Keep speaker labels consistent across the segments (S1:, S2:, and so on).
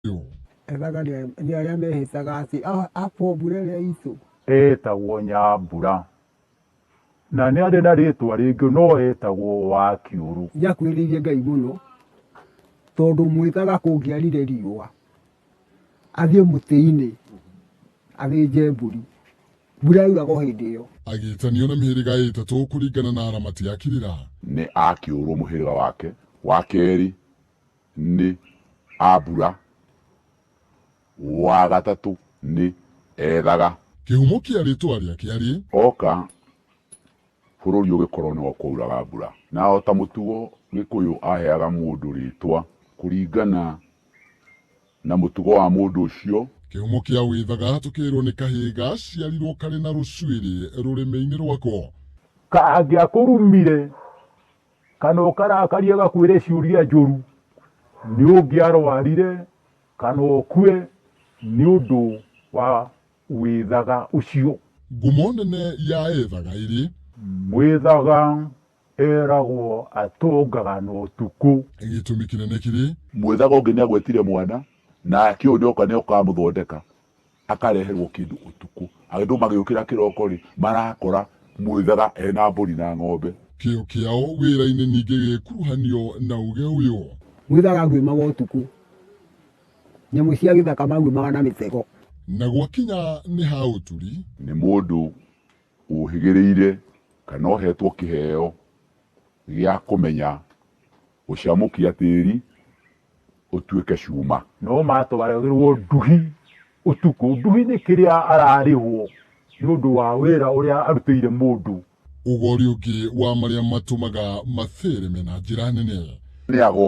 S1: itũ. Ethaga nĩ arĩa mehĩtaga atĩ akwo mbura ĩrĩa itũ. Etagwo
S2: Nyambura. Na nĩ arĩ na rĩtwa rĩngĩ no etagwo wa kĩũrũ. Nĩ akuhĩrĩirie Ngai mũno
S1: tondũ mwĩtaga kũngĩarire riũa athiĩ mũtĩ-inĩ athĩnje mbũri. Mbura yauraga o hĩndĩ ĩyo. Agĩtanio na mĩhĩrĩga
S3: ĩtatũ kũringana na aramati a Kirira. Nĩ a kĩũrũ
S4: mũhĩrĩga wake wa kerĩ. nĩ Abura, wa gatatũ nĩ Ethaga. Kĩhumo kĩa
S3: rĩtwa rĩake arĩ. Oka,
S4: bũrũri ũgĩkorwo nĩ wa kwauraga mbura. Na o ta mũtugo, Gĩkũyũ aheaga mũndũ rĩtwa kũringana na mũtugo wa mũndũ ũcio. Kĩhumo kĩa Wĩthaga,
S3: tũkĩrĩrwo nĩ kahĩĩ gaciarirwo karĩ na rũcuĩrĩ rũrĩmĩ-inĩ rwako. Kangĩakũrumire
S2: kana ũkarakaria gakwĩre ciũria njũru nĩ ũngĩarwarire kana ũkue nĩ ũndũ wa wĩthaga ũcio. Ngumo nene
S3: ya ethaga ĩrĩ. Mwĩthaga
S2: eragwo atũngaga na ũtukũ. Gĩtũmi kĩnene
S3: kĩrĩ. Mwĩthaga ũngĩ nĩagwetire
S4: mwana, nake ũyũ nĩoka nĩoka amũthondeka. akareherwo kĩndũ ũtukũ. Andũ magĩũkĩra kĩroko-rĩ, marakora mwĩthara ena mbũri na ng'ombe. Kĩyo kĩao
S3: wĩra-inĩ ningĩ gĩgĩkuruhanio na ũũgĩ ũyũ. Mwĩthara aguĩmaga
S1: ũtukũ. Nyamũ cia gĩthaka maguĩmaga na mĩtego. Na gwakinya
S3: nĩ ha ũturi. Nĩ mũndũ
S4: ũũhĩgĩrĩire kana ũhetwo kĩheo gĩa kũmenya gũcamũkia tĩri ũtuĩke cuma. No matwaragĩrwo
S2: nduhi ũtukũ. Nduhi nĩ kĩrĩa ararĩhwo nĩ ũndũ wa wĩra ũrĩa arutĩire mũndũ. Ũgori ũngĩ
S3: wa marĩa matũmaga mathereme na njĩra nene. Nĩ ago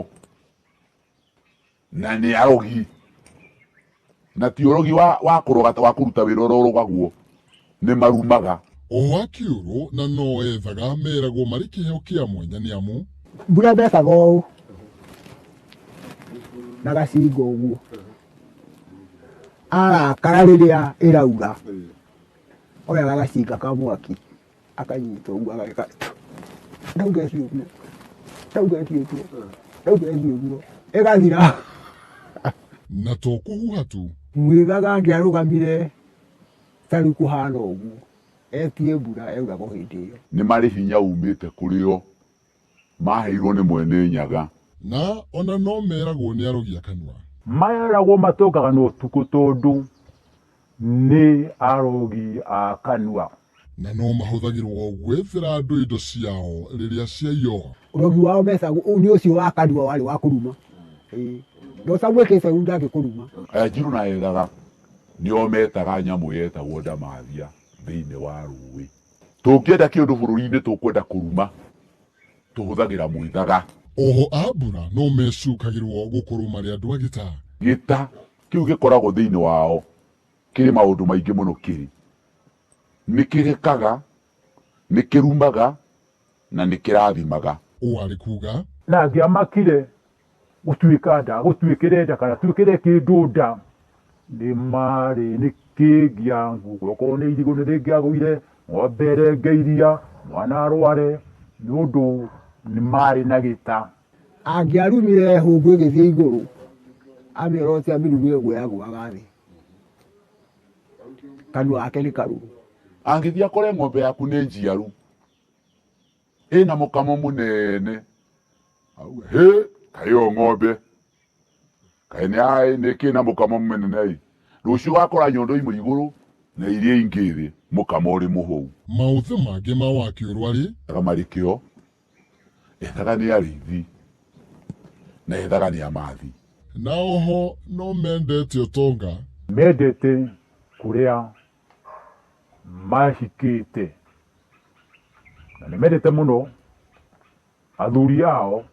S4: na nĩ arogi. Na ti ũrogi wa, wa kũroga ta wa kũruta wĩra ũrĩa ũrogagwo nĩ marumaga. O a kĩũrũ
S3: na no ethaga meragwo marĩ kĩheo kĩa mwanya nĩ amu. Mbura ndekaga
S1: ũũ na gacinga ũguo arakara rĩrĩa ĩraura oyaga gacinga ka mwaki akanyita ũguo ageka ndauga ĩthiĩ ũguo ndauga ĩthiĩ ũguo ndauga ĩthiĩ ũguo ĩgathira
S3: na to kũhuha tu mwigaga
S1: angĩarũgamire tarĩ kũhana ũguo etie mbura yauraga o hĩndĩ ĩyo nĩ marĩ hinya
S4: umĩte kũrĩ o maaheirwo nĩ Mwene Nyaga. Na o na
S3: no meragwo nĩ arogi a kanua. Meragwo
S2: matũngaga na ũtukũ tondũ nĩ arogi a kanua. Na no
S3: mahũthagĩrwo gwethera andũ indo ciao rĩrĩa ciaiywo. Ũrogi wao mecagwo
S1: nĩ ũcio wa kanua warĩ wa kũruma. Na ũtamwĩkĩte ũũru ndangĩkũruma. Anjirũ na Ethaga
S4: nĩo meetaga nyamũ yetagwo Ndamathia thĩinĩ wa rũũĩ. Tũngĩenda kĩũndũ bũrũri-inĩ tũkwenda kũruma, tũhũthagĩra mwĩthaga. Oho a mbura
S3: no mecukagĩrwo gũkorwo marĩ andũ a gĩta. Gĩta
S4: kĩu gĩkoragwo thĩinĩ wao kĩrĩ maũndũ maingĩ mũno kĩrĩ. Nĩ kĩgekaga, nĩ kĩrumaga, na nĩ kĩrathimaga. Ũũ arĩ kuuga.
S3: Nake amakire
S2: gũtuĩka nda gũtuĩkĩre nda kana tuĩkĩre kĩndũ nda nĩ marĩ nĩ kĩngĩa nguo okorwo nĩ irigũ nĩ rĩngĩagũire ng'ombe ĩrenge iria mwana arware nĩ ũndũ nĩ marĩ na gĩta angĩarumire
S1: hũngũ ĩgĩthiĩ igũrũ amĩrora ũcio amĩrumire ũguo yagũaga thĩ kanua gake nĩ karuru angĩthiĩ akore
S4: ng'ombe yaku nĩ njiaru Ĩ na mũkamo mũnene. Auga, hĩ, kaĩ yo ng'ombe. Kaĩ nĩ aĩ nĩ kĩ na mũkamo mũnene ĩ. Rũciũ ũgakora nyondo imwe igũrũ na iria ingĩ thĩ, mũkamo ũrĩ mũhũu. Maũthĩ mangĩ
S3: ma wakĩũrwa rĩ? Ethaga marĩ kĩo,
S4: ethaga nĩ arĩithi, na ethaga nĩ amathi. Na oho
S3: no mendete ũtonga. Mendete
S2: kũrĩa mahikĩte na nĩ mendete mũno athuri ao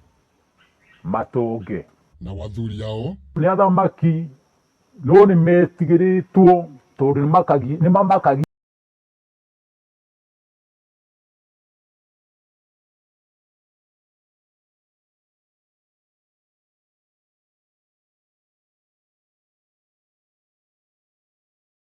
S2: matonge. Nao
S3: athuri ao. Nĩ athamaki
S2: no nĩ metigĩrĩtwo tondũ nĩ mamakagia.